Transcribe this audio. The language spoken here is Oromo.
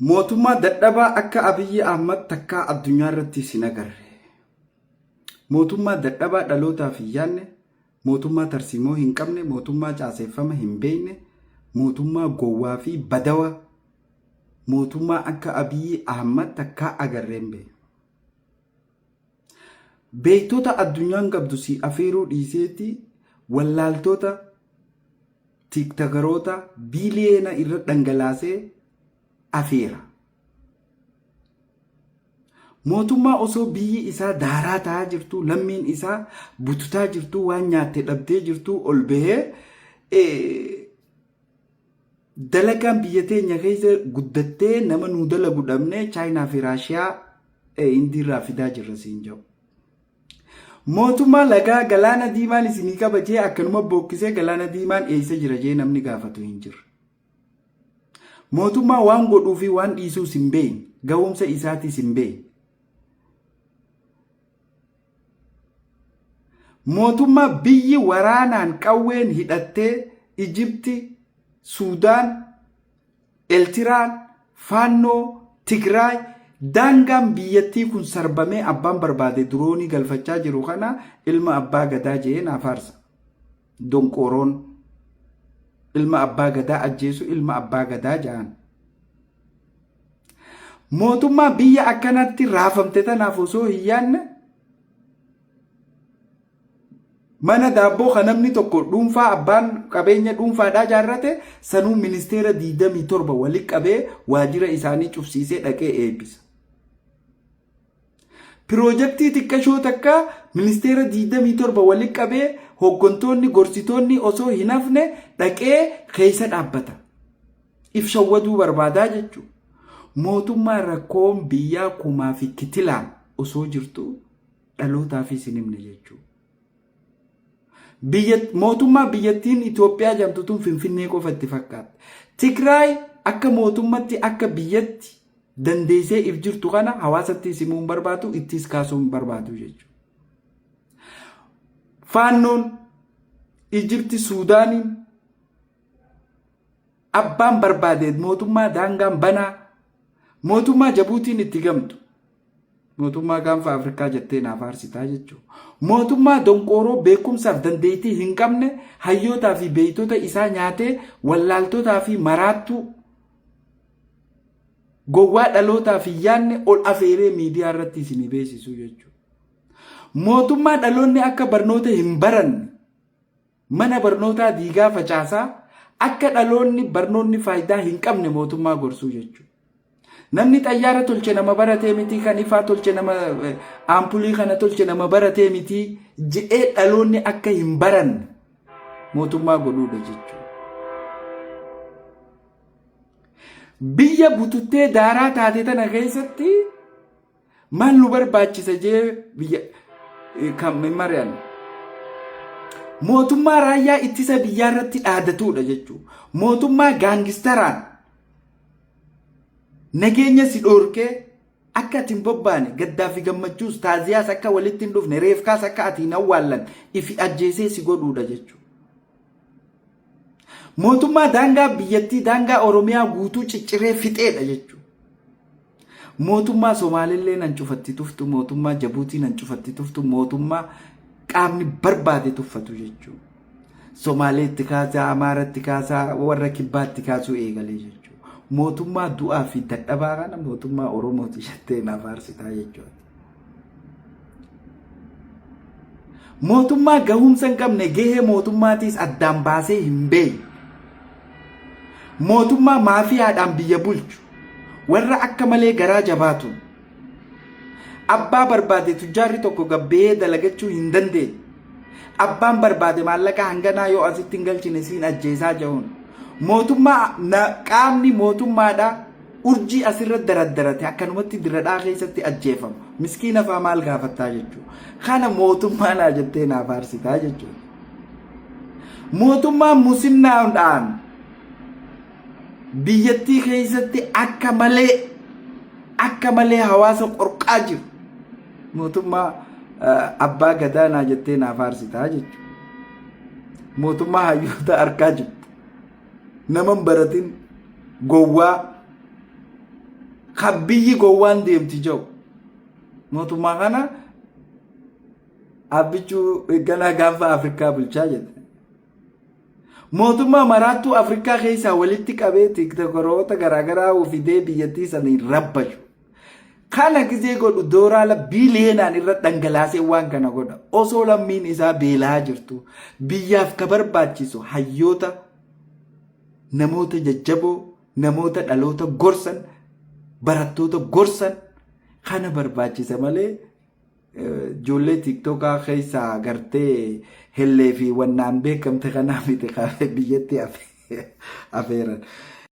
Mootummaa dadhabaa akka Abiyyi Ahmad takkaa addunyaa irratti isin agarre. Mootummaa dadhabaa dhalootaaf hin yaadne, mootummaa tarsiimoo hin qabne, mootummaa caaseeffama hin beekne, mootummaa gowwaa fi badawaa, mootummaa akka Abiyyi Ahmad takkaa agarree hin beekne. Beektota addunyaan qabdu si afeeruu dhiiseeti wallaaltoota tiiktagaroota biiliyeena irra dhangalaasee afeera. Mootummaa osoo biyyi isaa daaraa ta'aa jirtu lammiin isaa bututaa jirtu waan nyaatte dhabdee jirtu ol bahee Dalagaan biyya teenya keessa guddattee nama nuu dalagu dhabne Chaayinaa fi Raashiyaa Hindiirraa fidaa jirra siin jedhu. Mootummaa lagaa galaana diimaan isinii qaba jee akkanuma bookkisee galaana diimaan eessa jira jee namni gaafatu hin jirre. Mootummaa waan godhuu fi waan dhiisuus hin beekne gahumsa isaatiis hin beekne. Mootummaa biyyi waraanaan qawween hidhattee Ijibti, Suudaan, Eltiraan, Faannoo, Tigraay daangaan biyyattii kun sarbamee abbaan barbaade diroonii galfachaa jiru kana ilma abbaa gadaa jee naa faarsa. Donqooroon ilma abbaa gadaa ajjeesu ilma abbaa gadaa ja'an. Mootummaa biyya akkanatti raafamte tanaaf osoo hin yaadne mana daabboo kan namni tokko dhuunfaa abbaan qabeenya dhuunfaadhaa jaarrate sanuu ministeera 27 walitti qabee waajjira isaanii cufsiisee dhaqee eebbisa. Piroojektii xiqqashoo takka ministeera 27 wali qabee hooggantoonni gorsitoonni osoo hin hafne dhaqee keessa dhaabbata. If shawwaduu barbaadaa jechuudha. Mootummaa rakkoon biyyaa kumaa fi kitilaan osoo jirtu dhalootaafis hin himne jechuudha. Mootummaa biyyattiin Itoophiyaa jedhamtu tun Finfinnee qofa itti fakkaatti. Tigraay akka mootummatti akka biyyatti dandeessee if jirtu kana hawaasatti simuu hin barbaadu ittis kaasuu hin barbaadu jechuudha. Faannoon Ijipti Suudaaniin Abbaan barbaade mootummaa daangaan banaa, mootummaa Jabuutiin itti gamtu, mootummaa gaanfa Afrikaa jettee naaf aarsitaa jechuudha. Mootummaa donqooroo beekumsaaf dandeettii hin qabne hayyootaa fi beektota isaa nyaatee wallaaltotaa fi maraattuu gowwaa dhalootaaf hin yaadne ol afeeree miidiyaa irratti isinii beeksisuu jechuudha. Mootummaa dhaloonni akka barnoota hin baranne Mana barnootaa diigaa facaasaa akka dhaloonni barnoonni faaydaa hin qabne mootummaa gorsuu jechuudha. Namni xayyaara tolche nama baratee mitii kan ifaa tolche nama aampulii kana tolche nama baratee mitii jedhee dhaloonni akka hin baranne mootummaa godhuudha jechuudha. Biyya bututtee daaraa taate tana keessatti Maal nu barbaachisa jee biyya eh, kan hin mari'anne. Mootummaa raayyaa ittisa biyyaa irratti dhaadatuudha jechuudha. Mootummaa gaangistaraan nageenya si dhoorkee akka ati hin bobbaane gaddaa fi gammachuus taaziyaas akka walitti hin dhufne reefkaas akka ati hin awwaallan ifi ajjeesee si godhuudha jechuudha. Mootummaa daangaa biyyattii daangaa Oromiyaa guutuu cicciree fixeedha jechuudha. Mootummaa Somaalillee nan cufatti tuftu, mootummaa Jabuutii nan cufatti tuftu, mootummaa qaamni barbaade tuffatu jechuudha. Somaalee itti kaasaa, Amaara itti kaasaa, warra kibbaa itti kaasuu eegalee jechuudha. Mootummaa du'aa fi dadhabaa kana mootummaa Oromooti jettee naaf aarsitaa jechuudha. Mootummaa gahumsa hin qabne gahee mootummaatiis addaan baasee hin beekne. Mootummaa maafiyaadhaan biyya bulchu warra akka malee garaa jabaatu. Abbaa barbaade tujjaarri tokko gabbee dalagachuu hin dandeenye. Abbaan barbaade maallaqa hanganaa yoo asitti hin galchine siin ajjeesaa jechuun. Mootummaa qaamni mootummaadhaa Urjii asirra daraddarate akkanumatti diradhaa keessatti ajjeefamu miskiina faa maal gaafattaa jechuudha. Kana mootummaa naa jettee naa faarsitaa jechuudha. Mootummaan musinnaadhaan biyyattii keessatti akka malee akka malee hawaasa qorqaa jiru. Mootummaa abbaa gadaa naa jettee naa faarsitaa jechuudha. Mootummaa hayyoota harkaa jirtu. Nama hin baratin gowwaa kan biyyi gowwaan deemti jau mootummaa kana abbichuu ganaa gaanfa afrikaa bulchaa jette mootummaa maraattuu afrikaa keessaa walitti qabee tiktokoroota garaagaraa ofidee biyyattii saniin rabbashu Kana gizee godhu dooraala biiliyeenaan irra dhangalaasee waan kana godha. Osoo lammiin isaa beelaa jirtu biyyaaf ka barbaachisu hayyoota namoota jajjaboo namoota dhaloota gorsan barattoota gorsan kana barbaachisa malee ijoollee tiiktookaa keessaa gartee hellee fi wannaan beekamte kanaa miti biyyatti afeeran.